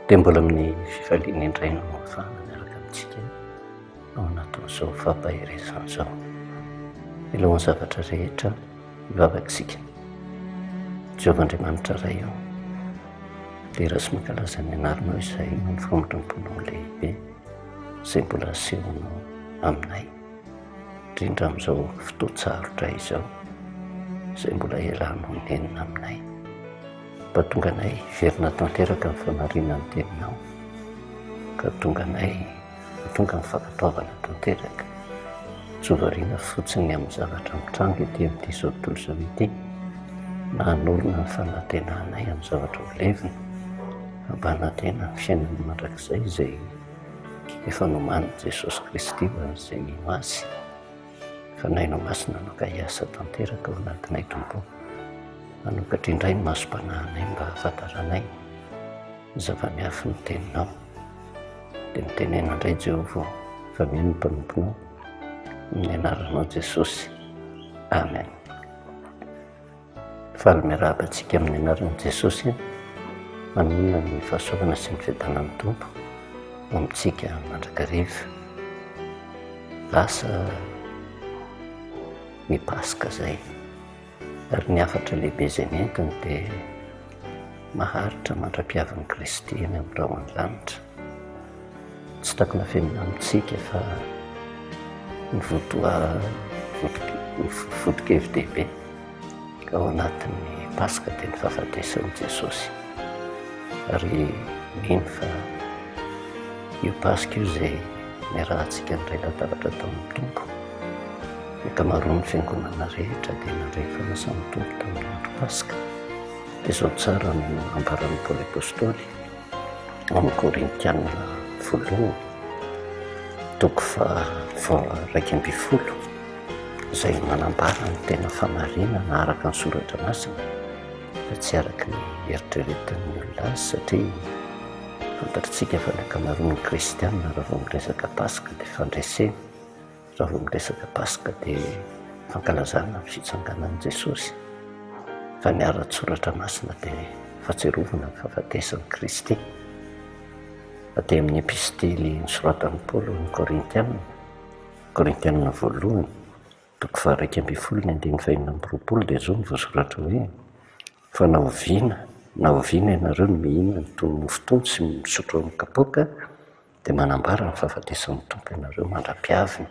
dia mbola amin'ny fifaliana indray no mafana miaraka amintsika ao anatin'izao fampaherezana izao milohan'ny zavatra rehetra mivavatsika Jehovah Andriamanitra Ray io dia raha sy mankalaza ny anarnao izay no ny famindram-ponao lehibe izay mbola asehonao aminay indrindra amin'izao fotoan-tsarotra izao izay mbola iarahanao minenina aminay. Mba tonga anay hiverina tanteraka ny famarinan'ny teninao, ka tonga anay tonga ny fankatoavana tanteraka, tsy ho variana fotsiny ny amin'ny zavatra mitranga ety amin'izao tontolo izao ity, na hanorina ny fanantenanay amin'ny zavatra ho levona, hampanantena ny fiainana mandrakizay izay efa nomanin'i Jesosy Kristy ho an'izay mino Azy. Fanahy no Masina hanoka hiasa tanteraka ao anatinay Tompo. Manokatra indray ny masom-panahinay mba hahafantaranay ny zava-miafin'ny Teninao. Dia mitenena indray Jehovah fa mino ny mpanomponao amin'ny anaranao Jesosy. Amen. Faly miarahaba antsika amin'ny anaran'i Jesosy. Manohana ny fahasoavana sy ny fiadanan'ny Tompo ho amintsika mandrakariva. Lasa ny Paska izay. Ary ny hafatra lehibe izay nentiny dia maharitra mandra-piavin'i Kristy eny amin'ny rahon'ny lanitra. Tsy takona velona amintsika fa ny votoa ny foto-keviny dehibe ao anatin'ny Paska dia ny fahafatesan'i Jesosy. Ary mino fa io Paska io izay niarahantsika niray latabatra tamin'ny Tompo. Ny ankamaroan'ny fiangonana rehetra dia nandray ny fanasan'ny Tompo tamin'ny andro Paska. Izao tsara no ambaran'i Paoly Apostoly. amin'ny Korintiana voalohany toko faha-iraika ambin'ny folo izay manambara ny tena famarinana araka ny soratra masina fa tsy araka ny eritreretan'ny olona azy satria fantatritsika fa ny ankamaroan'ny kristianina raha vao miresaka paska dia fandresena Raha vao miresaka Paska dia fankalazana ny fitsanganan'i Jesosy, fa ny ara-tsoratra masina dia fahatsiarovana ny fahafatesan'i Kristy. Aty amin'ny epistily nosoratan'i Paoly ho an'ny Korintiana, Korintiana voalohany, toko faha-iraika ambin'ny folo ny andininy fahenina amby roapolo dia izao no voasoratra hoe, Fa na oviana na oviana ianareo no mihinana itony mofo itony sy misotro amin'ny kapoaka, Dia manambara ny fahafatesan'ny Tompo ianareo mandra-pihaviny.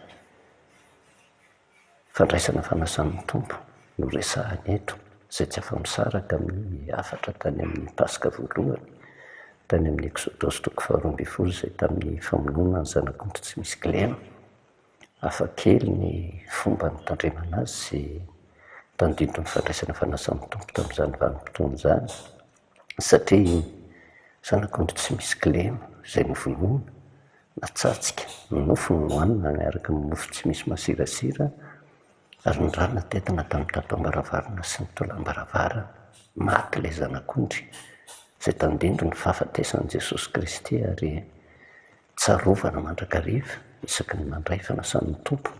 Fandraisana fanasan'ny Tompo no resahina eto, izay tsy afa-misaraka amin'ny hafatra tany amin'ny Paska voalohany, tany amin'ny Eksodosy toko faharoa ambin'ny folo izay tamin'ny famonoana ny zanak'ondry tsy misy kilema. Hafa kely ny fomba nitandremana azy sy tandindon'ny fandraisana fanasan'ny Tompo tamin'izany vanim-potoana izany, satria iny zanakao no tsy misy kilema izay novonoina, natsattsika, ny nofony nohanina miaraka amin'ny mofo tsy misy masirasira, ary ny rà natetina tamin'ny tapam-baravarana sy ny tolam-baravarana. Maty ilay zanak'ondry izay tandindon'ny fahafatesan'i Jesosy Kristy ary tsarovana mandrakariva isaky ny mandray fanasan'ny Tompo.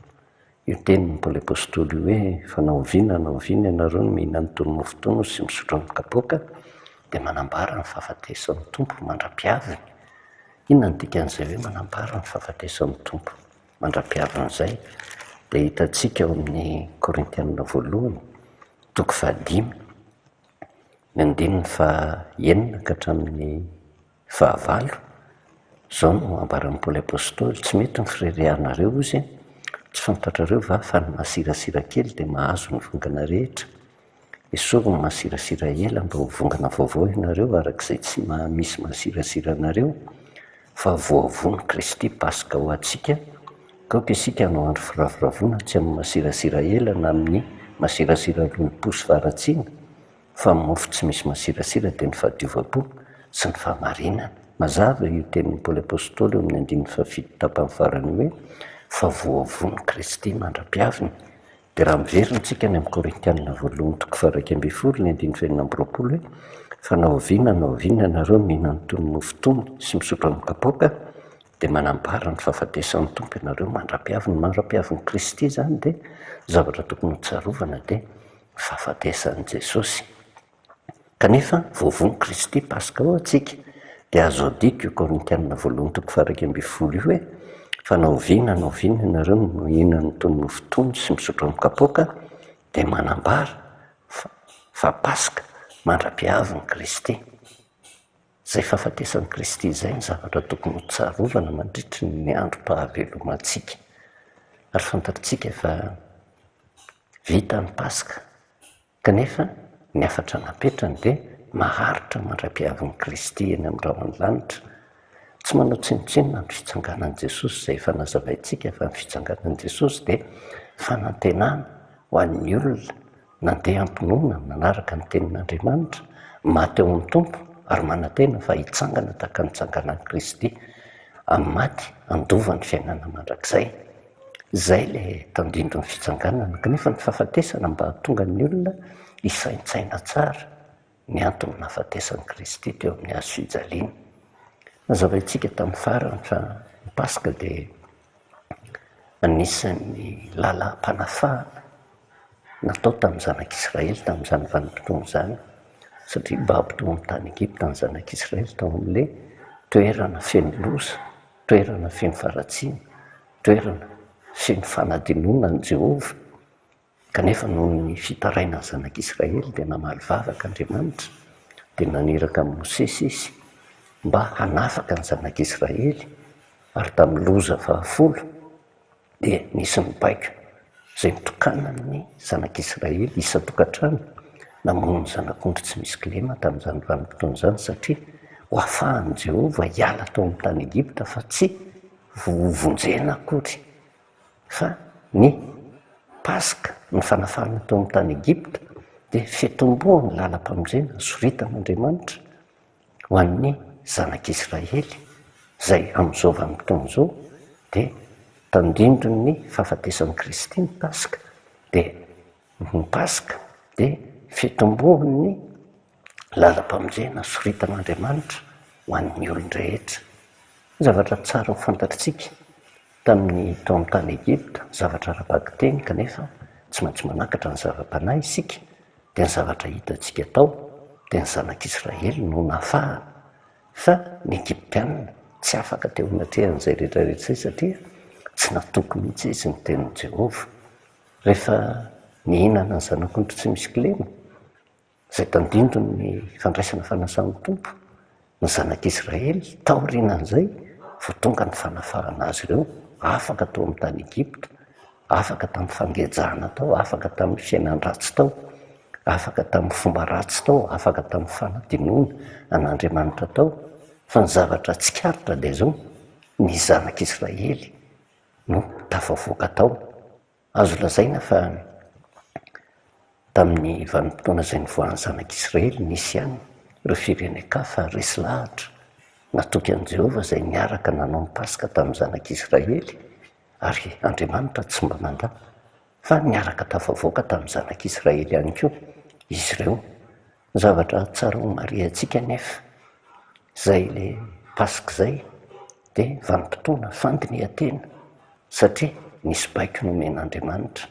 Io tenin'ny Paoly Apostoly io hoe, Fa na oviana na oviana ianareo no mihinana itony mofo itony sy misotro amin'ny kapoaka, dia manambara ny fahafatesan'ny Tompo mandra-pihaviny. Inona no dikan'izay hoe manambara ny fahafatesan'ny Tompo mandra-pihaviny izay? Dia hitantsika ao amin'ny Korintianina voalohany, toko fahadimy, ny andininy fahenina ka hatramin'ny Fahavalo, Izao no ambaran'i Paoly Apostoly, Tsy mety ny fireharehanareo, hozy e. Tsy fantatrareo va fa ny masirasira kely dia mahazo ny vongana rehetra? Esory ny masirasira ela mba ho vongana vaovao ianareo araka izay tsy maha-misy masirasira anareo, fa voavon'i Kristy Paska ho antsika, ka aoka isika hanao andro firavoravoana tsy amin'ny masirasira ela na amin'ny masirasira lolompo sy faharatsiana, fa mofo tsy misy masirasira dia ny fahadiovam-po sy ny fahamarinana. Mazava io tenin'i Paoly Apostoly eo amin'ny andininy fahafito tapany farany hoe, Fa voavonon'i Kristy mandra-piaviny. Dia raha miverina isika any amin'ny Korintiana voalohany toko faha-iraika ambin'ny folo ny andininy fahenina amby roapolo hoe, Fa na oviana na oviana ianareo mihinana itony mofo itony sy misotro amin'ny kapoaka dia manambara ny fahafatesan'ny Tompo ianareo mandra-piaviny. Mandra-piavin'i Kristy izany dia zavatra tokony hotsarovana dia fahafatesan'i Jesosy. Kanefa, voavono Kristy Paska ho antsika, dia azo adika io Korintiana voalohany toko faha-iraika ambin'ny folo io hoe, Fa na oviana na oviana ianareo no mihinana toy ny nofo tony sy misotro amin'ny kapoaka, dia manambara fa fa Paska mandra-pihavin'i Kristy. Izay fahafatesan'i Kristy izay no zavatra tokony hotsarovana mandritry ny androm-pahavelomantsika. Ary fantatritsika fa. Vita ny Paska, kanefa ny hafatra napetrany dia maharitra mandra-piavin'i Kristy eny amin'ny rahon'ny lanitra. Tsy manao tsinontsinona ny fitsanganan'i Jesosy, izay efa nazavaintsika fa ny fitsanganan'i Jesosy dia fanantenana ho an'ny olona nandeha am-pinoana nanaraka ny tenin'Andriamanitra, maty ao amin'ny Tompo ary manantena fa hitsangana tahaka ny nitsanganan'i Kristy amin'ny maty handova ny fiainana mandrakizay. Izay ilay tandindon'ny fitsanganana kanefa ny fahafatesana mba hahatonga ny olona hisaintsaina tsara ny anton'ny nahafatesan'i Kristy teo amin'ny hazo fijaliana. Nazavaintsika tamin'ny farany fa ny Paska dia anisan'ny lalam-panafahana natao tamin'ny zanak'Israely tamin'izany vanim-potoana izany satria baby tao amin'ny tany Egypta ny zanak'Israely tao amin'ilay toerana feno loza. toerana feno faharatsiana, toerana feno fanadinoana an'i Jehovah, kanefa noho ny fitarainan'ny Zanak'Israely dia namaly vavaka Andriamanitra, dia naniraka an'i Mosesy Izy mba hanafaka ny Zanak'Israely, ary tamin'ny loza fahafolo, dia nisy ny baiko izay nitokanana amin'ny zanak'Israely isan-tokantrano namono ny zanak'ondry tsy misy kilema tamin'izany vanim-potoana izany, satria ho afahan'i Jehovah hiala tao amin'ny tany Egypta fa tsy hovonjena akory fa ny Paska, ny fanafahana tao amin'ny tany Egypta dia fitomboan'ny lalam-pamonjena sorita an'Andriamanitra. Ho an'ny zanak'Israely izay amin'izao vanim-potoana izao dia tandindon'ny fahafatesan'i Kristy ny Paska dia ny Paska dia fitomboan'ny lalam-pamonjena soritan'Andriamanitra ho an'ny olon-drehetra. Zavatra tsara ho fantatritsika Tamin'ny taona tany Egypta, ny zavatra ara-bakiteny, kanefa tsy maintsy manakatra ny zava-panahy isika, dia ny zavatra hitantsika tao, dia ny Zanak'Israely no nafahana, fa ny Egyptiana tsy afaka teo anatrehan'izay rehetrarehetra izay, satria tsy natoky mihitsy izy ny tenin'i Jehovah. Rehefa nihinana ny zanak'ondry tsy misy kilema. izay tandindon' ny fandraisana fanasan' ny Tompo ny Zanak' Israely taorian' izay vao tonga ny fanafahana azy ireo afaka tao amin' ny tany Egipta, afaka tamin' ny fangejana tao, afaka tamin' ny fiainan-dratsy tao, afaka tamin' ny fomba ratsy tao, afaka tamin' ny fanadinoana an' Andriamanitra tao, fa ny zavatra tsikaritra dia izao, ny Zanak' Israely no tafavoaka tao. Azo lazaina fa tamin'ny vanim-potoana izay nivoahan'ny Zanak'i Israely nisy ihany ireo firenen-kafa resy lahatra natoky an'i Jehovah izay niaraka nanao ny Paska tamin'ny Zanak'i Israely, ary Andriamanitra tsy mba nandà fa niaraka tafavoaka tamin'ny Zanak'i Israely ihany koa izy ireo. Ny zavatra tsara ho marihantsika anefa, izay ilay Paska izay, dia vanim-potoana fandinihan-tena, satria nisy baiko nomen'Andriamanitra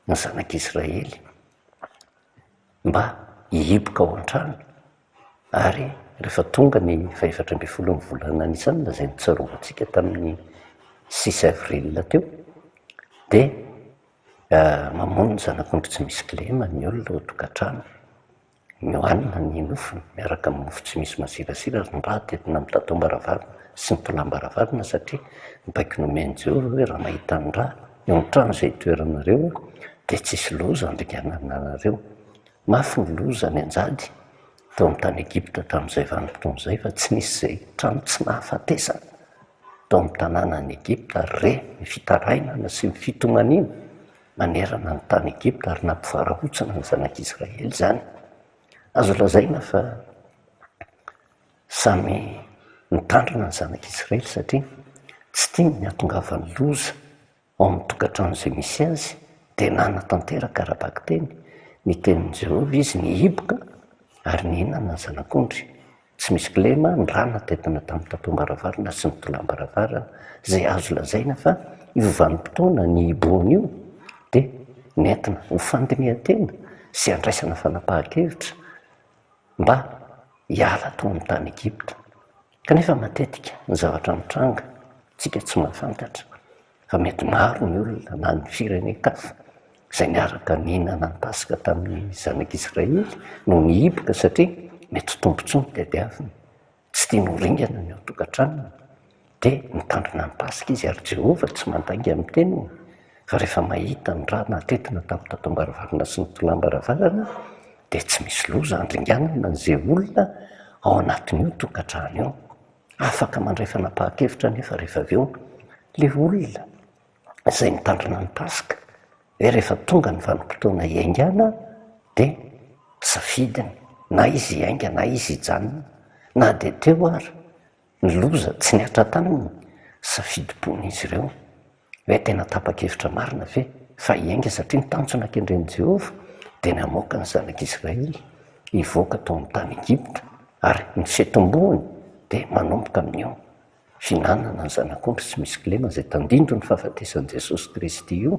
ny zanak'Israely mba hihiboka ao an-trano, ary rehefa tonga ny fahefatra ambin'ny folon'ny volana Nisana, izay notsarovan-tsika tamin'ny six avril teo, dia Mamono ny zanak'ondry tsy misy kilema ny olona ao an-tokantrano. Miohanina ny nofony miaraka amin'ny mofo tsy misy masirasira ary ny rà dia entina amin'ny tataom-baravarana sy ny tolàm-baravarana satria ny baiko nomen'i Jehovah hoe raha mahita ny rà eo an-trano izay itoeranareo dia tsy hisy loza handringanana anareo. Mafy ny loza any an-jady. tao amin'ny tany Egypta tamin'izay vanim-potoana izay fa tsy nisy izay trano tsy nahafatesana tao amin'ny tanàna any Egypta ary re ny fitarainana sy ny fitomaniana manerana ny tany Egypta ary nampivarahontsana ny zanak'Israely izany. Azo lazaina fa samy nitandrina ny zanak'Israely satria tsy tiany ny hahatongavan'ny loza. Ao amin'ny tokantrano izay misy azy, dia nanatanteraka ara-bakiteny ny tenin'i Jehovah izy nihiboka ary nihinana ny zanak'ondry. Tsy misy kilema ny rà natentina tamin'ny tatom-baravarana sy ny tolàm-baravarana, izay azo lazaina fa io vanim-potoana nihibohana io dia nentina ho fandinihan-tena sy handraisana fanapahan-kevitra mba hiala tao amin'ny tany Egypta. Kanefa matetika ny zavatra mitranga tsika tsy mahafantatra fa mety maro ny olona na ny firenen-kafa izay niaraka nihinana ny paska tamin'ny zanak' Israely no nihiboka satria mety tombontsoa ny tadiaviny. Tsy tiany ho ringana ny ao tokantranony dia mitandrina ny paska izy ary Jehovah tsy mandainga amin'ny teniny. Fa rehefa mahita ny rà natetina tamin'ny tatam-baravarana sy ny tolàm-baravarana dia tsy misy loza handringanana an'izay olona ao anatin'io tokantrano io. Afaka mandray fanapahan-kevitra anefa rehefa avy eo ilay olona izay mitandrina ny Paska hoe rehefa tonga ny vanim-potoana hiaingàna dia safidiny na izy hiainga na izy hijanona na dia teo ary ny loza tsy nihatra taminy safidim-pon'izy ireo. Hoe tena tapa-kevitra marina ve fa hiainga satria ny tanjona kendren'i Jehovah dia ny hamoaka ny zanak'Israely hivoaka tao amin'ny tany Egypta, ary ny fitomboany dia manomboka amin'io fihinanana ny zanak'ondry tsy misy kilema izay tandindon'ny fahafatesan'i Jesosy Kristy io,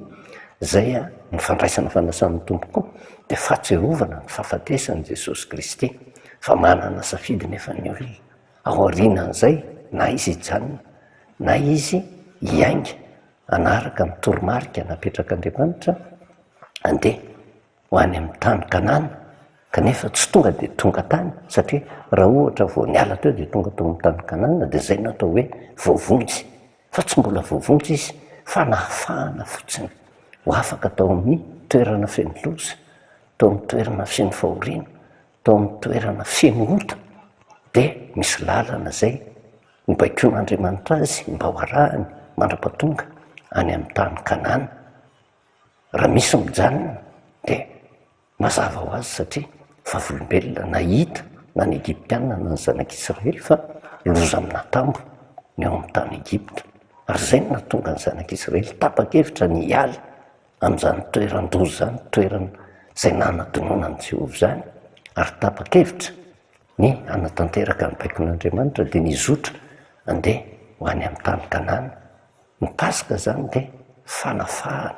izay ny fandraisana fanasan'ny Tompo koa dia fahatsiarovana ny fahafatesan'i Jesosy Kristy fa manana safidy nefa ny olona. aorianan'izay na izy hijanona na izy hiainga hanaraka ny toromarika napetrak'Andriamanitra handeha ho any amin'ny tany Kanana kanefa tsy tonga dia tonga tany satria raha ohatra vao niala teo dia tonga tao amin'ny tany Kanana dia izay no atao hoe voavonjy fa tsy mbola voavonjy izy fa nahafahana fotsiny ho afaka tao amin'ny toerana feno loza, tao amin'ny toerana feno fahoriana. Tao amin'ny toerana feno ota dia misy lalana izay nobaikoin'Andriamanitra azy mba ho arahany mandrapatonga any amin'ny tany Kanana. Raha misy mijanona dia mazava ho azy satria vavolombelona nahita na ny Egyptiana na ny zanak'Israely fa loza amina tambo ny ao amin'ny tany Egypta ary izay no nahatonga ny zanak'Israely tapa-kevitra ny hiala an'izany toeran-doza izany, toerana izay nanadinoana an'i Jehovah izany, ary tapa-kevitra ny hanatanteraka ny baikon'Andriamanitra, dia nizotra handeha ho any amin'ny tany Kanana. Ny Paska izany dia fanafahana,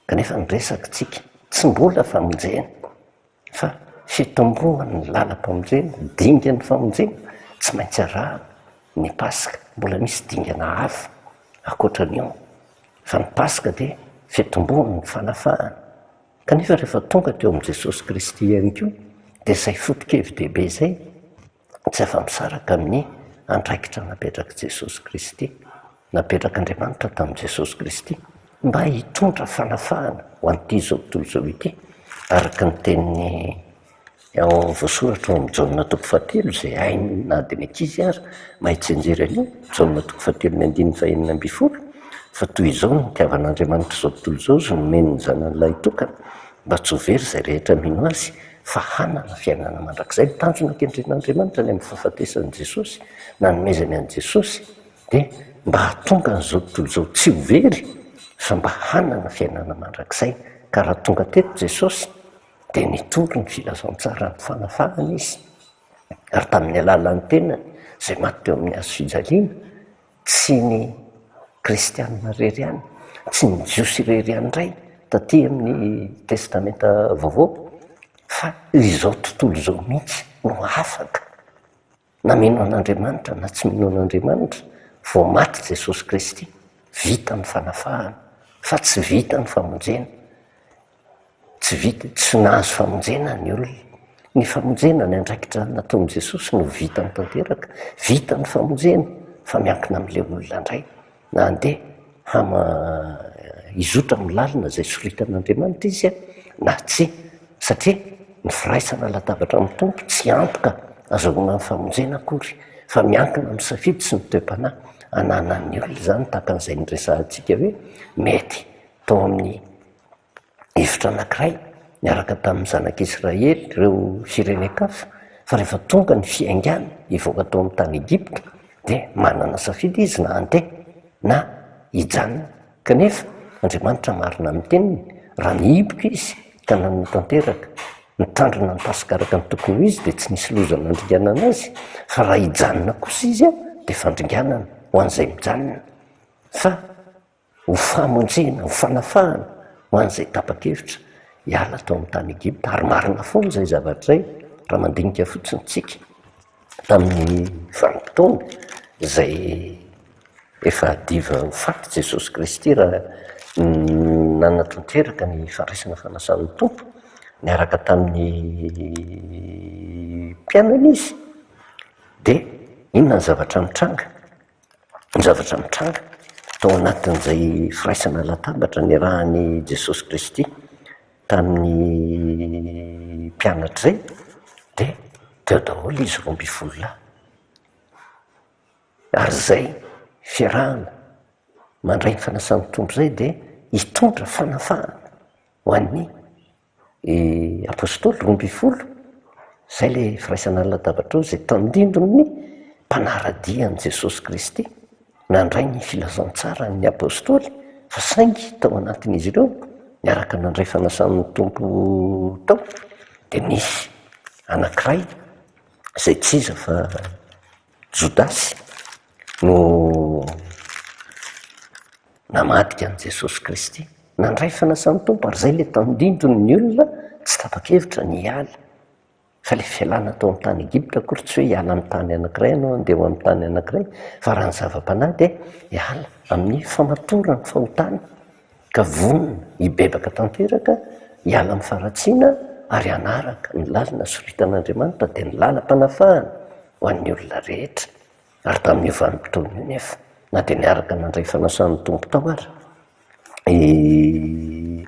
kanefa ny resakitsika tsy mbola famonjena. Fa fitomboan' ny làlam-pamonjena, dingan' ny famonjena, tsy maintsy arahana ny Paska. Mbola misy dingana hafa ankoatra an' io, fa ny Paska dia fitomboan' ny fanafahana. Kanefa rehefa tonga teo amin'i Jesosy Kristy ihany koa, dia izay foto-kevi-dehibe izay. tsy afa-misaraka amin'ny andraikitra napetrak'i Jesosy Kristy, napetrak'Andriamanitra tamin'i Jesosy Kristy mba hitondra fanafahana ho an'ity zao tontolo izao ity, araka ny tenin'ny ao voasoratra ao amin'ny Jaona toko fahatelo izay hainy na dia ny ankizy ary mahay tsianjery an'io, Jaona toko fahatelo ny andininy fahenina ambin'ny folo, fa toy izao no nitiavan'Andriamanitra izao tontolo izao, izy nomeny ny Zanany lahitokana, mba tsy ho very izay rehetra mino Azy. fa hanana fiainana mandrakizay. Ny tanjona kendren'Andriamanitra ny amin'ny fahafatesan'i Jesosy, nanomezany an'i Jesosy, dia mba hahatonga an'izao tontolo izao tsy ho very fa mba hanana fiainana mandrakizay. Ka raha tonga teto Jesosy dia nitory ny filazantsaran'ny fanafahana Izy, ary tamin'ny alalan'ny tenany izay maty teo amin'ny hazofijaliana, Tsy ny kristianina irery ihany, tsy ny jiosy irery ihany indray taty amin'ny testamenta vaovao fa izao tontolo izao mihitsy no afaka na mino an'Andriamanitra na tsy mino an'Andriamanitra, vao maty Jesosy Kristy vita ny fanafahana fa tsy vita ny famonjena. Tsy vita, tsy nahazo famonjena ny olona. Ny famonjena, ny andraikitra nataon'i Jesosy no vitany tanteraka. Vita ny famonjena fa miankina amin'ilay olona indray na handeha hama hizotra amin'ny lalana izay soritan'Andriamanitra izy na tsia. Satria ny firaisana latabatra amin'ny Tompo tsy antoka azahoana ny famonjena akory fa miankina amin'ny safidy sy ny toe-panahy ananan'ny olona izany tahaka an'izay niresahantsika hoe mety tao amin'ny hevitra anankiray niaraka tamin'ny zanak'Israely ireo firenen-kafa fa rehefa tonga ny fiaingàny hivoaka tao amin'ny tany Egypta dia manana safidy izy na handeha na hijanona. Kanefa Andriamanitra marina amin'ny teniny, raha nihiboka izy ka nanana tanteraka nitandrina ny Paska araka ny tokony ho izy dia tsy nisy loza nandringanana azy fa raha hijanona kosa izy dia fandringanana ho an'izay mijanona fa ho famonjena, ho fanafahana ho an'izay tapa-kevitra hiala tao amin'ny tany Egypta. Ary marina foana izay zavatra izay, raha mandinika fotsiny isika tamin'ny vanim-potoana izay efa hadiva ho faty Jesosy Kristy raha nanatanteraka ny fandraisana fanasan'ny Tompo niaraka tamin'ny mpianany Izy, dia inona ny zavatra nitranga? Ny zavatra nitranga tao anatin'izay firaisana latabatra niarahan'i Jesosy Kristy tamin'ny mpianatra izay dia teo daholo izy roa ambin'ny folo lahy. Ary izay fiarahana mandray ny fanasan'ny Tompo izay dia hitondra fanafahana ho an'ny. i Apostoly roa ambin'ny folo, izay ilay firaisana ny latabatr'ireo izay tandindon'ny mpanara-dia an'i Jesosy Kristy nandray ny filazantsaran'ny Apostoly fa saingy tao anatin'izy ireo niaraka nandray fanasan'ny Tompo tao dia nisy anankiray izay tsy iza fa Jodasy. no namadika an'i Jesosy Kristy. Nandray fanasan'ny Tompo ary izay ilay tandindon' ny olona tsy tapa-kevitra ny hiala. Fa ilay fialana tao amin'ny tany Egypta akory tsy hoe hiala amin'ny tany anankiray ianao handeha ho amin'ny tany anankiray fa raha ny zava-panahy dia hiala amin'ny famatoran'ny fahotana ka vonona hibebaka tanteraka hiala amin'ny faharatsiana ary hanaraka ny lalana soritana Andriamanitra dia ny lalam-panafahana ho an'ny olona rehetra. Ary tamin'io vanim-potoana io anefa, na dia niaraka nandray fanasan'ny Tompo tao aza i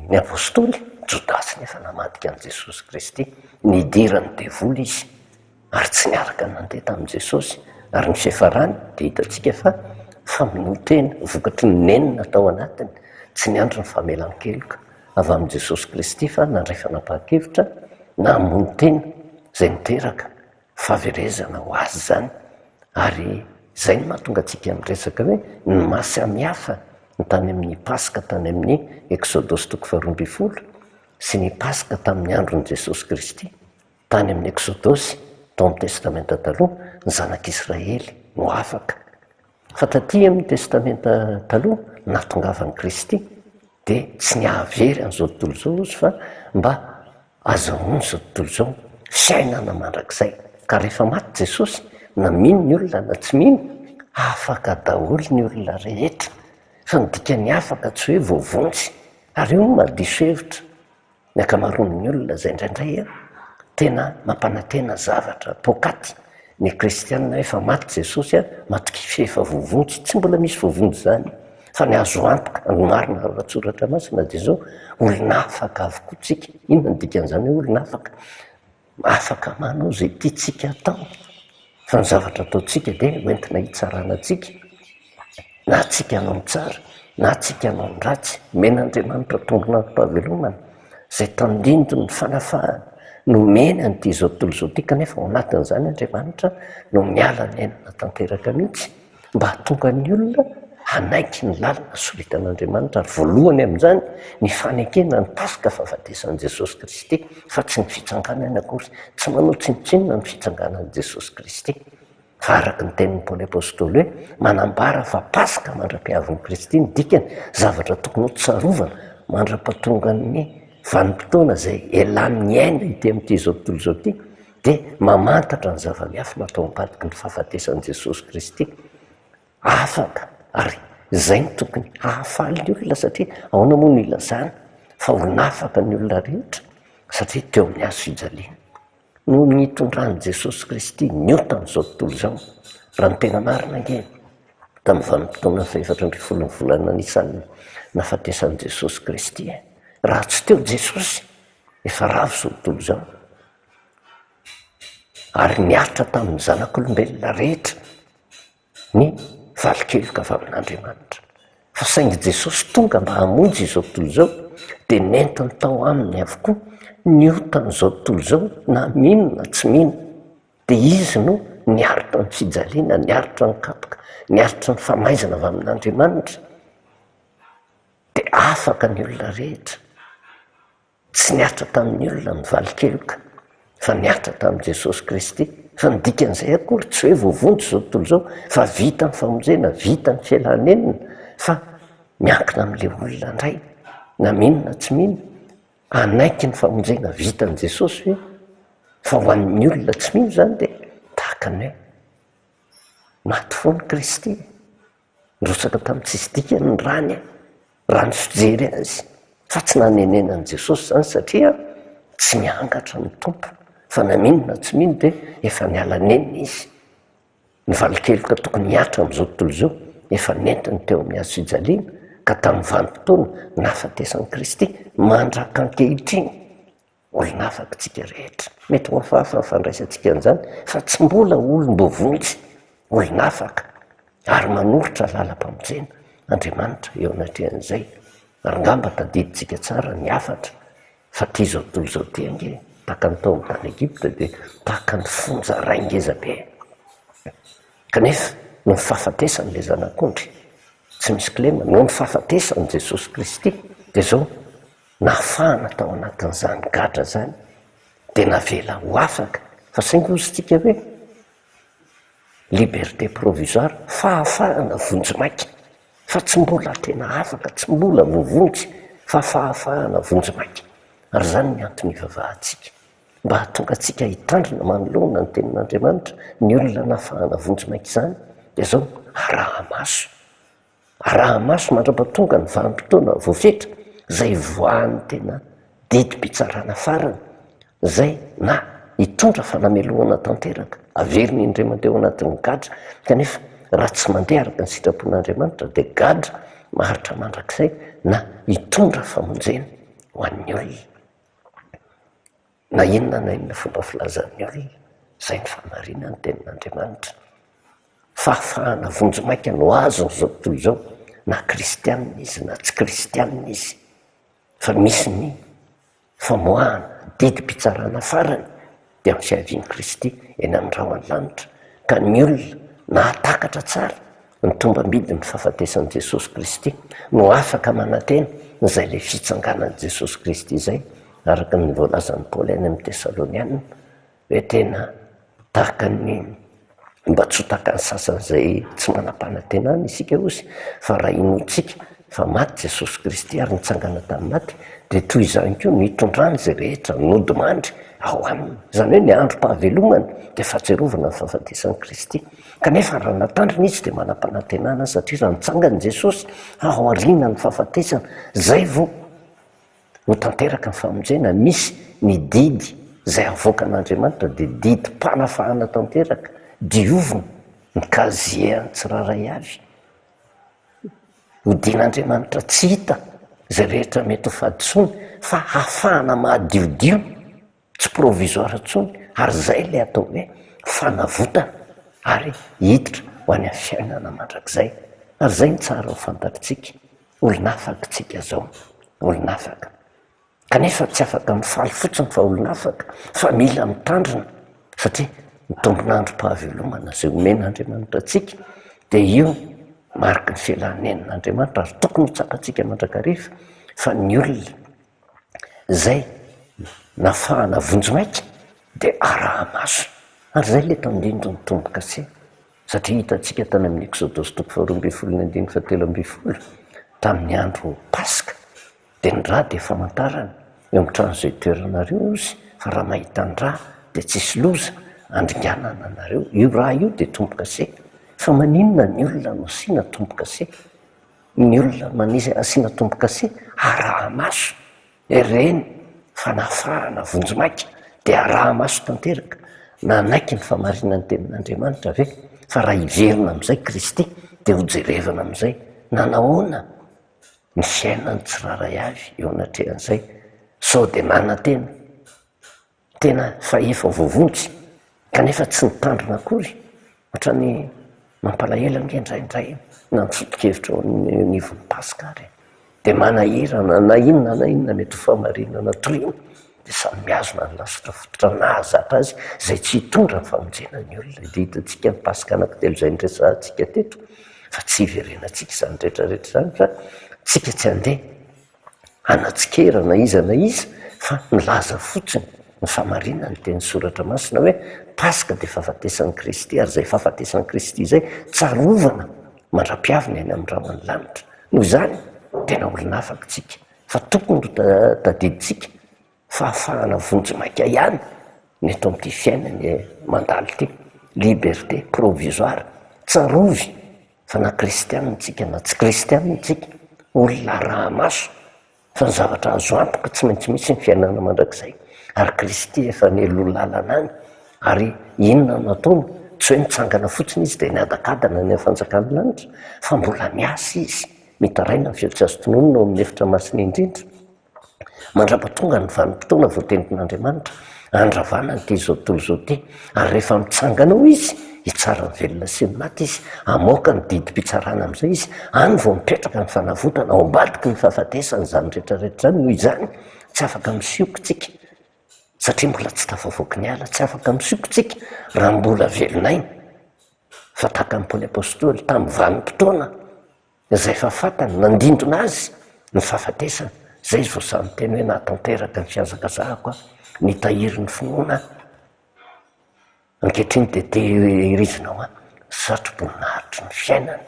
ny Apôstôly, Jodasy nefa namadika an'i Jesosy Kristy. Nidiran'ny devoly izy ary tsy niaraka nandeha tamin'i Jesosy. Ary ny fiafarany dia hitantsika fa famonoan-tena vokatry ny nenina tao anatiny, tsy niandry ny famelan-keloka avy amin'i Jesosy Kristy fa nandray fanapahan-kevitra na hamono tena izay niteraka fahaverezana ho azy izany ary izay no mahatonga antsika miresaka hoe ny maha samihafa ny tany amin'ny Paska tany amin'ny Eksodosy toko faharoa ambin'ny folo sy ny Paska tamin'ny andron'i Jesosy Kristy tany amin'ny Eksodosy tao amin'ny Testamenta Taloha, ny zanak'Israely no afaka. Fa taty amin'ny Testamenta Taloha, nahatongavan'i Kristy, dia tsy ny hahavery an'izao tontolo izao Izy fa mba hazahoany izao tontolo izao, fiainana mandrakizay. Ka rehefa maty Jesosy, na mino ny olona na tsy mino, afaka daholo ny olona rehetra. Fa ny dikan'ny afaka tsy hoe voavonjy. Ary io no mahadiso hevitra. Ny ankamaroan'ny olona izay indraindray tena mampanantena zavatra poakaty ny kristiana hoe efa maty Jesosy, maty kify efa voavonjy, tsy mbola misy voavonjy izany fa ny azo antoka ary ny marina ao an-tsoratra masina dia izao, olona afaka avokoa tsika, inona no dikan'izany hoe olona afaka? Afaka manao izay tiantsika atao fa ny zavatra ataontsika dia hoentina hitsarana antsika na antsika hanao ny tsara na antsika hanao ny ratsy. Omena Andriamanitra tombonarom-pahavelomana izay tandindon' ny fanafahana nomeny an' ity izao tontolo izao ity kanefa ao anatin'izany Andriamanitra no miala ny ainana tanteraka mihitsy. mba hahatonga ny olona hanaiky ny lalana soritan'Andriamanitra ary voalohany amin'izany ny fanekena ny Paska fahafatesan'i Jesosy Kristy fa tsy ny fitsanganany akory. Tsy manao tsinontsinona ny fitsanganan'i Jesosy Kristy fa araka ny tenin'i Paoly Apostoly hoe manambara fa Paska mandra-pihavin'i Kristy ny dikany, zavatra tokony hotsarovana mandra-pahatongan'ny vanim-potoana izay elan'ny aina ity amin'ity izao tontolo izao ity. dia mamantatra ny zava-miafina atao am-padiky ny fahafatesan'i Jesosy Kristy. Afaka, ary izay no tokony hahafaly ny olona, satria ahoana moa no ilazana fa ho nafaka ny olona rehetra? Satria teo amin'ny hazo fijaliana no nitondran'i Jesosy Kristy ny ota amin'izao tontolo izao. Raha ny tena marina ange, tamin'ny vanim-potoana fahefatra ambin'ny folon'ny volana Nisan no nahafatesan'i Jesosy Kristy e! Raha tsy teo Jesosy, efa ravo izao tontolo izao. Ary niaritra tamin'ny zanak'olombelona rehetra ny valin-keloka avy amin'Andriamanitra. Fa saingy Jesosy tonga mba hamonjy izao tontolo izao, dia nentiny tao Aminy avokoa ny otan'izao tontolo izao na mino na tsy mino. Dia Izy no niaritra ny fijaliana, niaritra ny kapoka, niaritra ny famaizana avy amin'Andriamanitra. Dia afaka ny olona rehetra. Tsy nihatra tamin'ny olona ny valin-keloka fa nihatra tamin'i Jesosy Kristy. Fa ny dikan'izay akory tsy hoe voavonjy izao tontolo izao fa vita ny famonjena, vita ny fialan'enina fa miankina amin'ilay olona indray na mino na tsy mino hanaiky ny famonjena vitan'i Jesosy ve? Fa ho an'ny olona tsy mino izany dia tahaka ny hoe maty foana Kristy e! Nirotsaka tamin'ny tsisy dikany ny rany raha ny fijery azy fa tsy nanenenan'i Jesosy izany satria tsy miangatra ny Tompo fa na mino na tsy mino dia efa miala nenina izy. Ny valin-keloka tokony hihatra amin'izao tontolo izao efa nentiny teo amin'ny hazo fijaliana ka tamin'ny vanim-potoana nahafatesan'i Kristy mandrak'ankehitriny Olona hafa aky tsika rehetra. Mety ho hafahafa ny fandraisantsika an'izany fa tsy mbola olom-bovo mihitsy. Olona hafa aky. Ary manoritra lalam-pamonjena Andriamanitra eo anatrehan'izay. Ary ngamba tadidintsika tsara ny hafatra fa ty izao tontolo izao ty ange tahaka ny tao amin'ny tany Egypta dia tahaka ny fonja ray ngeza be. Kanefa noho ny fahafatesan'ilay Zanak'ondry tsy misy kilema, noho ny fahafatesan'i Jesosy Kristy dia izao Nafahana tao anatin'izany gadra izany dia navela ho afaka fa saingy hoy isika hoe liberté provisoire, fahafahana vonjimaika fa tsy mbola tena afaka, tsy mbola voavonjy fa fahafahana vonjimaika. Ary izany ny antony ivavahantsika, mba hahatonga antsika hitandrina manoloana ny Tenin'Andriamanitra ny olona nafahana vonjimaika izany dia izao, araha-maso. Araha-maso mandra-pahatonga ny vanim-potoana voafetra izay hivoahan'ny tena didim-pitsarana farany izay na hitondra fanamelohana tanteraka averina indrema teo anatin'ny gadra kanefa raha tsy mandeha araka ny sitrapon'Andriamanitra dia gadra maharitra mandrakizay na hitondra famonjena ho an'ny olona Na inona na inona fomba filazan'ny olona, izay no fahamarinan'ny Tenin'Andriamanitra. Fahafahana vonjimaika no azony izao tontolo izao, na kristiana izy na tsy kristiana izy, fa misy ny famoahana, didim-pitsarana farany, dia amin'ny fiavian'i Kristy eny amin'ny rahon'ny lanitra. Ka ny olona nahatakatra tsara Ny tombambidin'ny fahafatesan'i Jesosy Kristy no afaka manantena izay ilay fitsanganan'i Jesosy Kristy izay, araka ny voalazan'i Paoly any amin'ny Tesalonianina hoe tena tahaka ny mba tsy ho takan'ny sasany izay tsy manam-panantenana isika ozy fa raha inoantsika fa maty Jesosy Kristy ary nitsangana tamin'ny maty dia toy izany koa no hitondrany izay rehetra nodimandry ao aminy. Izany hoe ny androm-pahavelomana dia fahatsiarovana ny fahafatesan'i Kristy. Kanefa raha natandrina izy dia manam-panantenana satria raha nitsangana i Jesosy ao aorianan'ny fahafatesana, izay vao ho tanteraka ny famonjena. Misy ny didy izay havoakan'Andriamanitra dia didim-panafahana tanteraka, diovina ny kazien'ny tsirairay avy, hodian'Andriamanitra tsy hita izay rehetra mety ho fahadisoany fa hafahana mahadiodio tsy provisoire intsony ary izay ilay atao hoe fanavotana ary hiditra ho any amin'ny fiainana mandrakizay ary izay no tsara ho fantatritsika olon'afaka isika izao olon'afaka kanefa tsy afaka mifaly fotsiny fa olon'afaka fa mila mitandrina satria ny tombon'androm-pahavelomana izay omen'Andriamanitra antsika dia io no mariky ny fialan'ny nenina Andriamanitra ary tokony ho tsapantsika mandrakariva fa ny olona izay nafahana vonjimaika dia araha-maso ary izay ilay tandindon' ny tombo-kase satria hitantsika tany amin' ny Eksodosy toko faharoa ambin'ny folo ny andininy fahatelo ambin'ny folo tamin' ny andro Paska dia ny ra dia famantarana eo amin' ny trano izay itoeranareo ozy fa raha mahita ny ra dia tsisy loza handringanana anareo io ra io dia tombo-kase fa maninona ny olona no asiana tombo-kase? ny olona manizina asiana tombokase arahamaso ireny fanafarana vonjimaika dia arahamaso tanteraka nanaiky ny famarinan'ny tenin'Andriamanitra ve fa raha hiverina amin'izay Kristy dia hojerevana amin'izay nanahoana ny fiainan'ny tsirairay avy eo anatrehan'izay sao dia nanantena tena fa efa voavonjy kanefa tsy nitandrina akory otrany mampalahelo ange indraindray na ny foto-kevitra eo anivon'ny Paska ary e! dia manahirana na inona na inona mety ho fahamarinana toriana dia samy mihazona ny lasitra fototra nahazatra azy izay tsy hitondra ny famonjena ny olona, dia hitantsika ny Paska anankitelo izay niresahantsika teto fa tsy hiverenantsika izany rehetra rehetra izany fa tsika tsy handeha hanatsikera na iza na iza fa milaza fotsiny ny fahamarinana ny teny soratra masina hoe Paska dia fahafatesan'i Kristy ary izay fahafatesan'i Kristy izay tsarovana mandra-piaviny any amin'ny rahona lanitra. Noho izany, tena olona afaka isika fa tokony ho tadidintsika fahafahana vonjimaika ihany ny eto amin'ity fiainana mandalo ity, liberté provisoire, tsarovy fa na kristianina tsika na tsy kristianina tsika, olona araha-maso fa ny zavatra azo antoka tsy maintsy misy ny fiainana mandrakizay ary kristy efa nialoha lalana any ary inona no ataony tsy hoe mitsangana fotsiny izy dia miadakadana any amin'ny fanjakan'ny lanitra fa mbola miasa izy mitaraina ny feo tsy azo tononina ao amin'ny efitra masina indrindra Mandrapatonga ny vanim-potoana voatentin'Andriamanitra handravana an'ity izao tontolo izao ity, ary rehefa mitsangana ao Izy, hitsara ny velona sy ny maty Izy, hamoaka ny didim-pitsarana amin'izay Izy, any vao mipetraka ny fanavotana, ao ambadiky ny fahafatesana izany rehetra rehetra izany, noho izany tsy afaka misioka isika, satria mbola tsy tafavoaky ny ala, tsy afaka misioka isika raha mbola velon'aina, fa tahaka ny Paoly Apostoly, tamin'ny vanim-potoana, Izay efa fantany, nandindona azy ny fahafatesana, izay izy vao sahy miteny hoe nahatanteraka ny fihazakazahako aho, nitahiry ny finoana aho, ankehitriny dia tehirizina ho ahy ny satroboninahitry ny fiainana.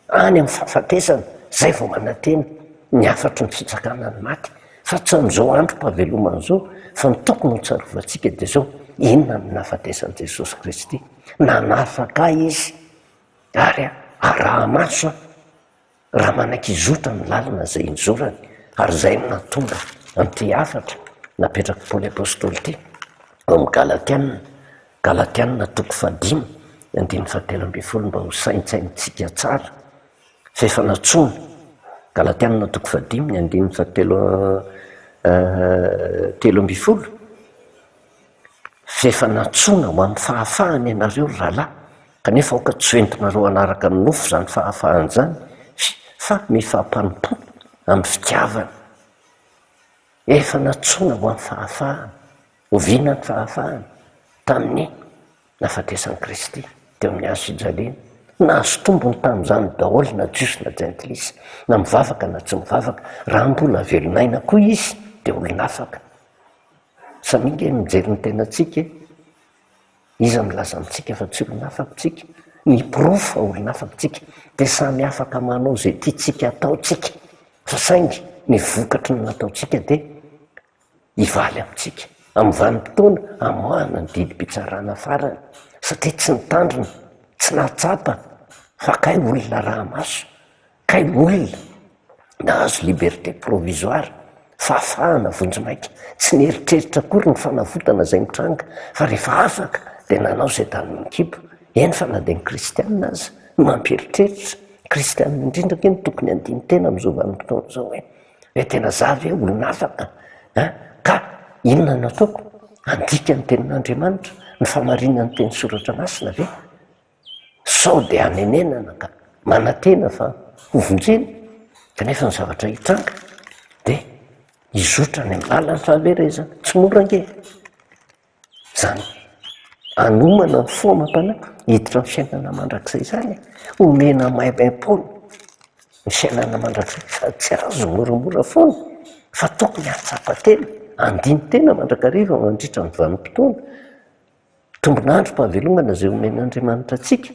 Any amin'ny fahafatesana, izay vao manantena ny hafatry ny fitsakana ny maty, fa tsy amin'izao androm-pahavelomana izao, fa ny tokony ho tsarovantsika dia izao, inona no nahafatesan'i Jesosy Kristy? Nanafaka ahy Izy. Ary araho maso aho raha manakizotra ny lalana izay injorany, ary izay no nahatonga an'ity hafatra napetrak'i Paoly Apostoly ity ao amin'ny Galatiana, Galatiana toko fahadimy, andininy fahatelo ambin'ny folo, mba ho saintsainintsika tsara fa efa nantsoina, Galatiana toko fahadimy, andininy fahatelo, telo ambin'ny folo, F'efa nantsoina ho amin'ny fahafahana ianareo ry rahalahy, kanefa aoka tsy ho entinareo hanaraka amin'ny nofo izany fahafahana izany, fy fa mifampanompoa amin'ny fitiavana. Efa nantsoina ho amin'ny fahafahana. Oviana ny fahafahana? Tamin'ny nahafatesan'i Kristy teo amin'ny hazo fijaliana. Nahazo tombony tamin'izany daholo na Jiosy na Jentilisa, na mivavaka na tsy mivavaka. Raha mbola velon'aina koa izy, dia olon'afaka. Za mi nge mijery ny tenantsika e! Iza milaza amintsika fa tsy olona afaka tsika? Ny porofo fa olona afaka tsika dia samy afaka manao izay tiantsika atao tsika fa saingy ny vokatry ny nataontsika dia hivaly amintsika amin'ny vanim-potoana hamoahana ny didim-pitsarana farany satria tsy nitandrina, tsy nahatsapa fa kay olona araha-maso. Kay olona nahazo liberté provisoire, fahafahana vonjimaika, tsy nieritreritra akory ny fanavotana izay mitranga fa rehefa afaka dia nanao izay tanin'ny kibo. Eny fa na dia ny kristianina aza no mampieritreritra, kristianina indrindra ve no tokony handini-tena amin'izao vanim-potoana izao hoe hoe tena za ve olona afaka an? Ka inona no ataoko? Handika ny tenin'Andriamanitra, ny famarinan'ny teny soratra masina ve? Sao dia hanenenana ka manantena fa ho vonjena kanefa ny zavatra hitranga dia hizotra any am-balan'ny fahaverezana. Tsy mora ange izany hanomana ny fo amam-panahy hiditra amin'ny fiainana mandrakizay izany e! Omena maimaim-poana ny fiainana mandrakizay fa tsy azo moramora foana fa tokony hahatsapa tena, handini-tena mandrakariva mandritra ny vanim-potoana. Tombon'androm-pahavelomana izay omen'Andriamanitra antsika,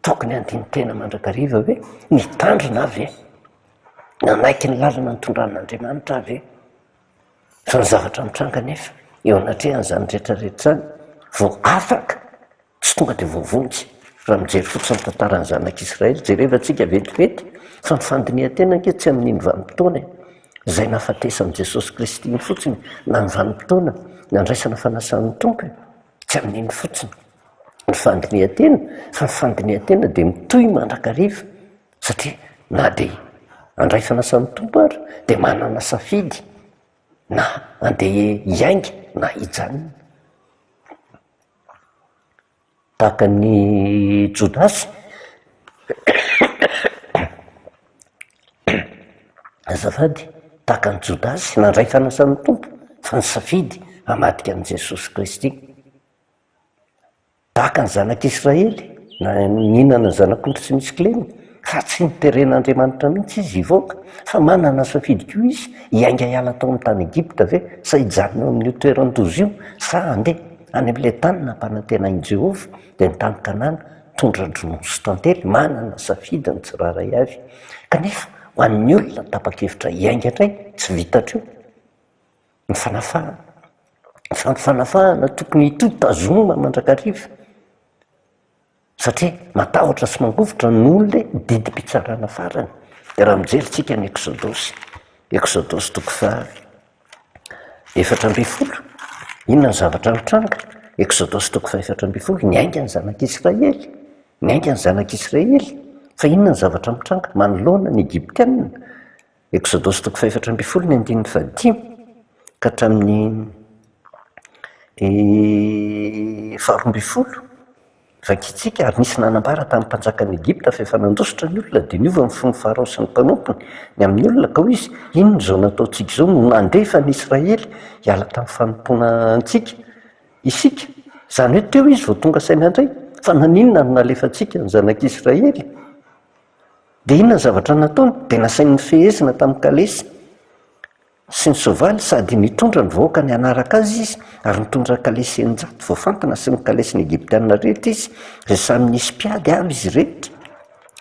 tokony handini-tena mandrakariva ve? Nitandrina aho ve? Nanaiky ny lalana nitondran'Andriamanitra aho ve? Fa ny zavatra mitranga anefa eo anatrehan'izany rehetra rehetra izany, vao afaka, tsy tonga dia voavonjy. Raha mijery fotsiny ny tantaran'ny zanak'Israely, jereva tsika vetivety fa ny fandinihan-tena ange tsy amin'iny vanim-potoana iny. izay nahafatesan'i Jesosy Kristy iny fotsiny na ny vanim-potoana nandraisana fanasan'ny Tompo e! tsy amin'iny fotsiny ny fandinihan-tena fa ny fandinihan-tena dia mitohy mandrakariva satria na dia handray fanasan'ny Tompo ary dia manana safidy na handeha hiainga na hijanona Tahaka an'i Jodasy? Azafady, tahaka an'i Jodasy nandray fanasan'ny Tompo fa nisafidy hamadika an'i Jesosy Kristy. Tahaka ny zanak'Israely nihinana ny zanak'ondry tsy misy kilema. ka tsy noteren'Andriamanitra mihitsy izy hivoaka, fa manana safidy koa izy, hiainga hiala tao amin'ny tany Egypta ve, sa hijanona eo amin'io toeran-doza io, sa handeha any amin'ilay tany nampanantenain'i Jehovah, dia ny tany Kanana, tondra-dronono sy tantely. Manana safidy ny tsirairay avy. Kanefa, ho an'ny olona tapa-kevitra hiainga indray, tsy vita hatreo ny fanafahana. Fa ny fanafahana tokony hitohy, tazomina mandrakariva. Satria matahotra sy mangovitra ny olona e, didim-pitsarana farany dia raha mijery tsika ny eksodosy, Eksodosy toko faha efatra ambin'ny folo, inona ny zavatra nitranga? Eksodosy toko faha efatra ambin'ny folo, niainga ny zanak'Israely, niainga ny zanak'Israely, fa inona ny zavatra mitranga manoloana ny Egyptianina? Eksodosy toko fahefatra ambin'ny folo ny andininy fahadimy ka hatramin'ny faharoa ambin'ny folo. Vakintsika, Ary nisy nanambara tamin'ny mpanjakan'i Egypta fa efa nandositra ny olona, dia niova ny fon'i Farao sy ny mpanompony ny amin'ny olona, ka hoy izy, Inona izao nataontsika izao no nandefa ny Israely hiala tamin'ny fanompoana antsika isika? Izany hoe teo izy vao tonga saina indray, fa naninona no nalefantsika ny zanak'Israely? Dia inona ny zavatra nataony? Dia nasainy nifehezina tamin'ny kalesy sy ny soavaly sady nitondra ny vahoakany hanaraka azy izy, ary nitondra ny kalesy eninjato voafantina sy ny kalesin'ny Egyptiana rehetra izy, izay samy nisy mpiady avy izy rehetra.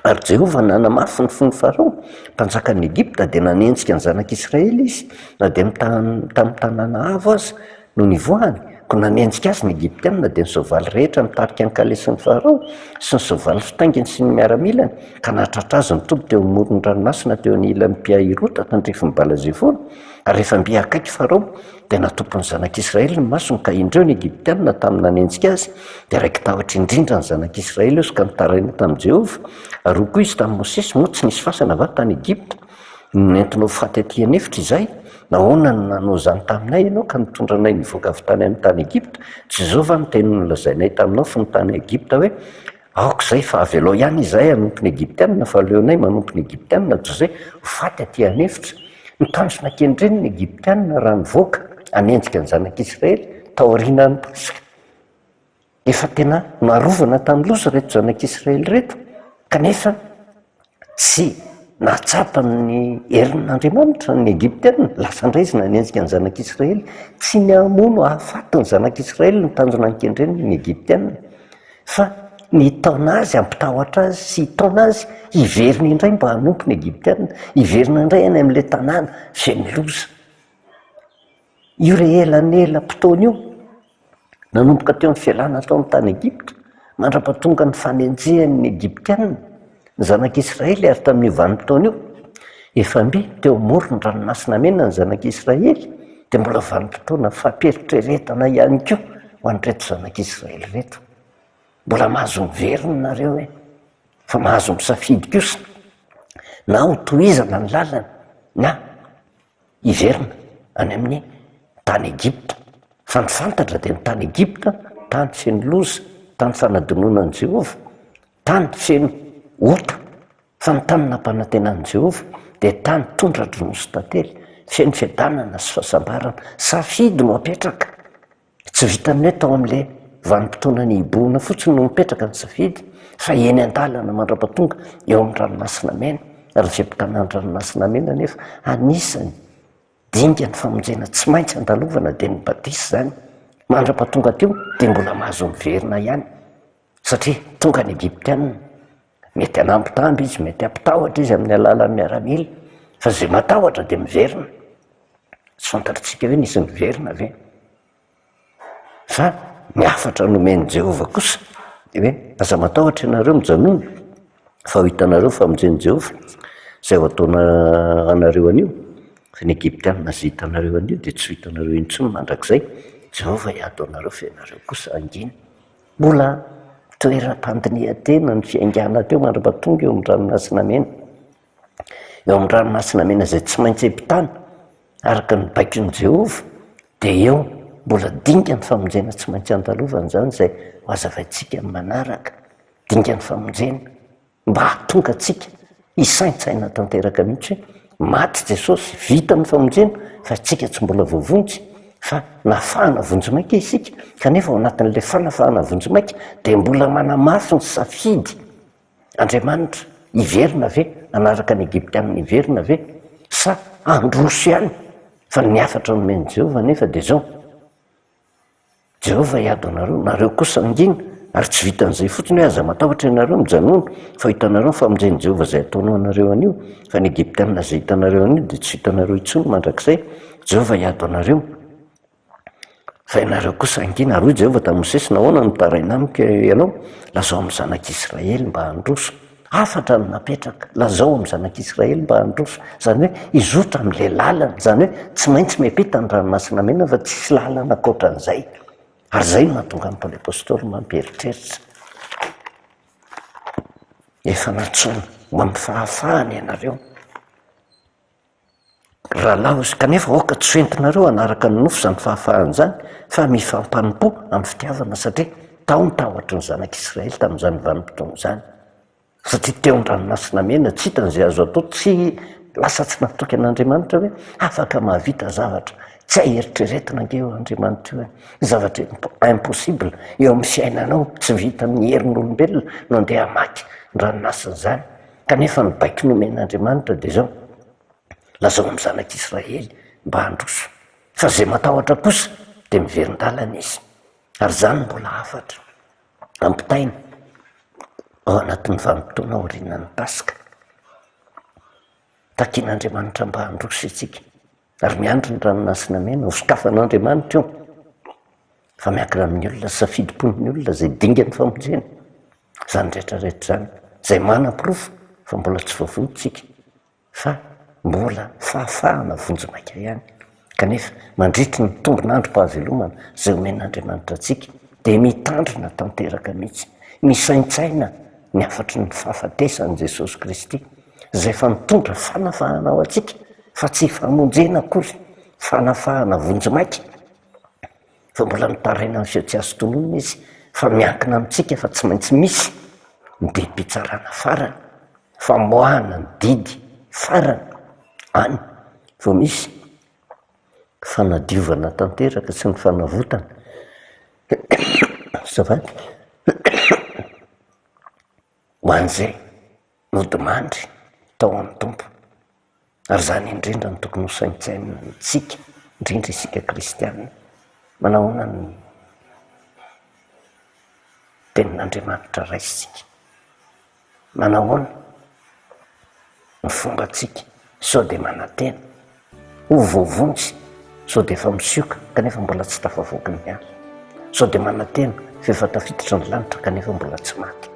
Ary Jehovah nanamafy ny fon'i Farao, mpanjakan'i Egypta, dia nanenjika ny zanak'Israely izy, na dia tamin'ny tanàna avo aza. Nony nivoahany, koa nanenjika azy ny Egyptiana, dia ny soavaly rehetra nitarika ny kalesin'i Farao, sy ny soavaly fitainginy sy ny miaramilany, ka nahatratra azy nitoby teo amoron'ny ranomasina teo anilan'i Pi-hahirota tandrifin'i Bala-zefona, ary rehefa mby akaiky Farao, dia natopy ny zanak'Israely ny masony, ka indreo ny Egyptiana tamin'ny nanenjika azy, dia raiki-tahotra indrindra ny zanak'Israely izy ka nitaraina tamin'i Jehovah, ary hoy koa izy tamin'i Mosesy, Moa tsy nisy fasana va tany Egypta? Nentinao ho faty aty an'efitra izahay? Nahoana no nanao izany taminay ianao ka nitondra anay nivoaka avy tany amin'ny tany Egypta? Tsy izao va no teny nolazainay taminao fony tany Egypta hoe, Aoka izay fa avelao ihany izahay hanompo ny Egyptianina fa aleonay manompo ny Egyptianina toy izay ho faty aty an'efitra? Nitandrina kendreny ny Egyptianina raha nivoaka hanenjika ny zanak'Israely taorianan'ny Paska. Efa tena narovana tamin'ny loza ireto zanak'Israely ireto, kanefa tsy nahatsapa ny herin'Andriamanitra ny Egyptiana. Lasa indray izy nanenjika ny zanak'Israely. Tsy ny hamono hahafaty ny zanak'Israely no tanjona nikendreny ny Egyptiana, fa ny hitaona azy, hampitahotra azy sy hitaona azy hiverina indray mba hanompo ny Egyptiana, hiverina indray any amin'ilay tanàna feno loza. Io re elanelam-potoana io, nanomboka teo amin'ny fialana tao amin'ny tany Egypta, mandra-pahatonga ny fanenjehany ny Egyptiana ny zanak'i Israely ary tamin'io vanim-potoana io, efambe teo amoron'ny Ranomasina Mena ny zanak'i Israely, dia mbola vanim-potoana fampiheritreretana ihany koa ho an'ireto zanak'i Israely ireto. Mbola mahazo miverina ianareo e! Fa mahazo misafidy kosa na hotohizana ny lalany na. hiverina any amin'ny tany Egypta, fa ny fantatra dia ny tany Egypta tany feno loza, tany fanadinoanan'i Jehovah, tany feno ota, fa ny tany nampanantenan'i Jehovah dia tany tondra-dranoso tantely, feno fiadanana sy fahasambarana. Safidy no apetraka. Tsy vitan'ny hoe tao amin'ilay vanim-potoana nihibohana fotsiny no mipetraka ny safidy fa eny an-dalana mandra-pahatonga eo amin'ny Ranomasina Mena. Ary izay mpitana ny Ranomasina Mena anefa anisan'ny dingan'ny famonjena tsy maintsy andalovana dia ny Badisa izany. Mandra-pahatonga teo dia mbola mahazo miverina ihany satria tonga ny Egyptiana. Mety hanambitamby izy, mety hampitahotra izy amin'ny alalan'ny miaramila, fa izay matahotra dia miverina. Tsy fantatritsika hoe nisy niverina ve? Fa ny hafatra nomen'i Jehovah kosa dia hoe, Aza matahotra ianareo, mijanòna, fa ho hitanareo ny famonjen'i Jehovah, izay ho ataony anareo anio. Fa ny Egyptiana izay hitanareo anio dia tsy ho hitanareo intsony mandrakizay. Jehovah hiady ho anareo fa ianareo kosa hangina. Mbola toeram-pandinihan-tena ny fiaingàna teo mandra-pahatonga eo amin'ny Ranomasina Mena. Eo amin'ny Ranomasina Mena izay tsy maintsy ampitàna, araka ny baikon'i Jehovah, dia eo mbola dingan'ny famonjena tsy maintsy andalovana izany, izay hozavaintsika amin'ny manaraka, dingan'ny famonjena. mba hahatonga antsika hisaintsaina tanteraka mihitsy hoe maty Jesosy, vita ny famonjena fa isika tsy mbola voavonjy fa nafahana vonjimaika isika kanefa ao anatin'ilay fanafahana vonjimaika dia mbola manamafy ny safidy Andriamanitra hiverina ve hanaraka ny Egyptiana hiverina ve sa handroso ihany fa ny hafatra nomen'i Jehovah anefa dia izao Jehovah hiady aminareo, nareo kosa mangina, ary tsy vitan'izay fotsiny hoe aza matahotra ianareo, mijanòna, fa hitanareo ny famonjen'i Jehovah izay ataony ho anareo anio, fa ny Egyptiana izay hitanareo anio dia tsy hitanareo intsony mandrakizay. Jehovah hiady aminareo, fa ianareo kosa hangina. Ary hoy Jehovah tamin'i Mosesy, Nahoana no mitaraina amiko ianao? Lazao amin'ny zanak'Israely mba handroso. Hafatra no napetraka, lazao amin'ny zanak'Israely mba handroso, izany hoe hizotra amin'ilay lalana, izany hoe tsy maintsy miampita ny Ranomasina Mena fa tsisy lalana ankoatran'izay. Ary izay no mahatonga an'i Paoly Apostoly mampieritreritra, Efa nantsoina ho amin'ny fahafahana ianareo. Rahalahy Osy, kanefa aoka tsy ho entinareo hanaraka ny nofo izany fahafahana izany, fa mifampanompo amin'ny fitiavana, satria tao ny tahotry ny zanak'Israely tamin'izany vanim-potoana izany, satria teo an-dranomasina mena, tsy hitany izay azo atao, tsy lasa tsy natoky an'Andriamanitra ve? Afaka mahavita zavatra tsy hay eritreretina ange io Andriamanitra io e! zavatra impossible eo amin'ny fiainanao, tsy vitan'ny herin'olombelona no andeha hamaky ny ranomasina izany, Kanefa ny baiko nomen'Andriamanitra dia izao, Lazao amin'ny zanak'Israely mba handroso, fa izay matahotra kosa dia miverin-dalana izy. Ary izany mbola hafatra ampitaina ao anatin'ny vanim-potoana aorianan'ny Paska, takin'Andriamanitra mba handroso isika. Ary miandry ny ranomasina mena ho sokafan'Andriamanitra io, fa miankina amin'ny olona sy safidim-pon'ny olona izay dingan'ny famonjena izany rehetra rehetra izany, izay manaporofo fa mbola tsy voavonjintsika, fa mbola fahafahana vonjimaika ihany. Kanefa, mandritry ny tombon'androm-pahavelomana izay omen'Andriamanitra antsika, dia mitandrina tanteraka mihitsy, misaintsaina ny hafatry ny fahafatesan'i Jesosy Kristy, izay efa mitondra fanafahana ho antsika fa tsy famonjena akory, fanafahana vonjimaika fa mbola mitaraina amin'ny feo tsy azo tononina izy fa miankina amintsika fa tsy maintsy misy ny didim-pitsarana farany, famoahana ny didy farany, any vao misy fanadiovana tanteraka sy ny fanavotana, azafady. Ho an'izay nodimandry tao amin'ny Tompo. Ary izany indrindra no tokony hosaintsainintsika, indrindra isika kristiana. Manahoana ny Tenin'Andriamanitra raisintsika? Manahoana? ny fombantsika sao dia manantena ho voavonjy, sao dia efa misioka kanefa mbola tsy tafavoaka ny hazo, sao dia manantena f'efa tafiditra ny lanitra kanefa mbola tsy maty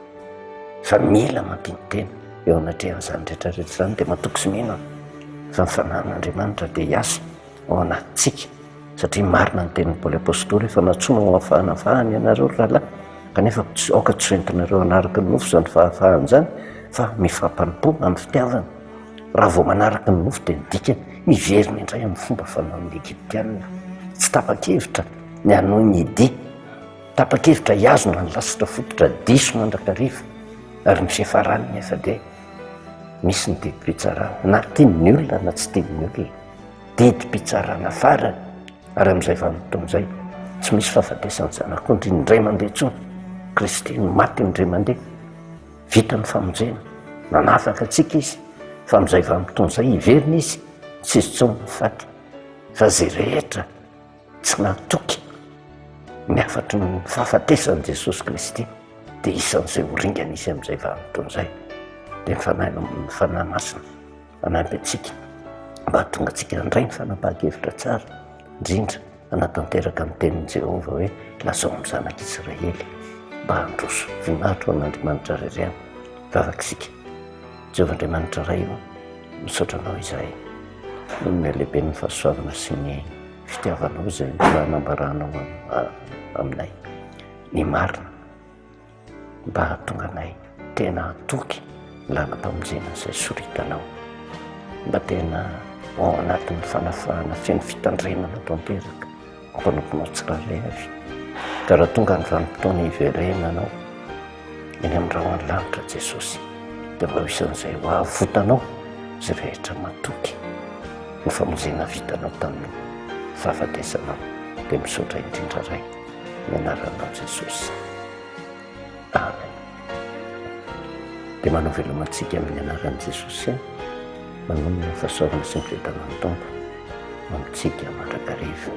fa mila mampino-tena eo anatrehan'izany rehetra rehetra izany dia matoky sy mino aho fa ny fanahin'Andriamanitra dia hiasa ao anatintsika. Satria marina ny tenin'i Paoly Apostoly, efa nantsoina ho afahanafahana ianareo ry rahalahy, kanefa aoka tsy ho entinareo hanaraka ny nofo izany fahafahana izany, fa mifampanopo amin'ny fitiavana. Raha vao manaraka ny nofo dia midika hiverina indray amin'ny fomba fanaon'ny Egyptiana. Tsy tapa-kevitra ny hanohy ny dia, tapa-kevitra hihazona ny lasitra fototra diso mandrakariva, ary ny fiafarany anefa dia misy ny didim-pitsarana, na tian'ny olona na tsy tian'ny olona. didim-pitsarana farany ary amin'izay vanim-potoana izay tsy misy fahafatesan'ny Zanak'ondry indray mandeha intsony, Kristy no maty indray mandeha, vita ny famonjena, nanafaka antsika Izy, fa amin'izay vanim-potoana izay hiverina Izy, tsy hisy intsony ny faty, fa izay rehetra tsy natoky ny hafatry ny fahafatesan'i Jesosy Kristy dia isan'izay ho ringana Izy amin'izay vanim-potoana izay, dia ny Fanahy Masina. hanampy antsika mba hahatonga antsika handray ny fanapahan-kevitra tsara indrindra hanatanteraka ny tenin'i Jehovah hoe, Lazao amin'ny zanak'Israely mba handroso vinahitra ho an'Andriamanitra ry ireo. Vavak'isika. Jehovah Andriamanitra Ray ô, misaotra Anao izahay noho ny halehiben'ny fahasoavana sy ny fitiavanao izay mbola nambaranao aminay ny marina. mba hahatonga anay tena hatoky ny lalam-pamonjena izay soritanao, mba tena ho ao anatin'ny fanafahana feno fitandremana tanteraka ny mpanomponao tsirairay avy. Ka raha tonga ny vanim-potoana hiverenana anao eny amin'ny rahon'ny lanitra Jesosy, dia mba ho isan'izay ho avotanao izay rehetra matoky ny famonjena vitanao tamin'ny fahafatesanao. Dia misaotra indrindra Ray. ny anaranao Jesosy. Amen. Dia manao veloma antsika amin'ny anaran'i Jesosy aho. Manonona ny fahasoavana sy ny fiadanan'ny Tompo amintsika mandrakariva.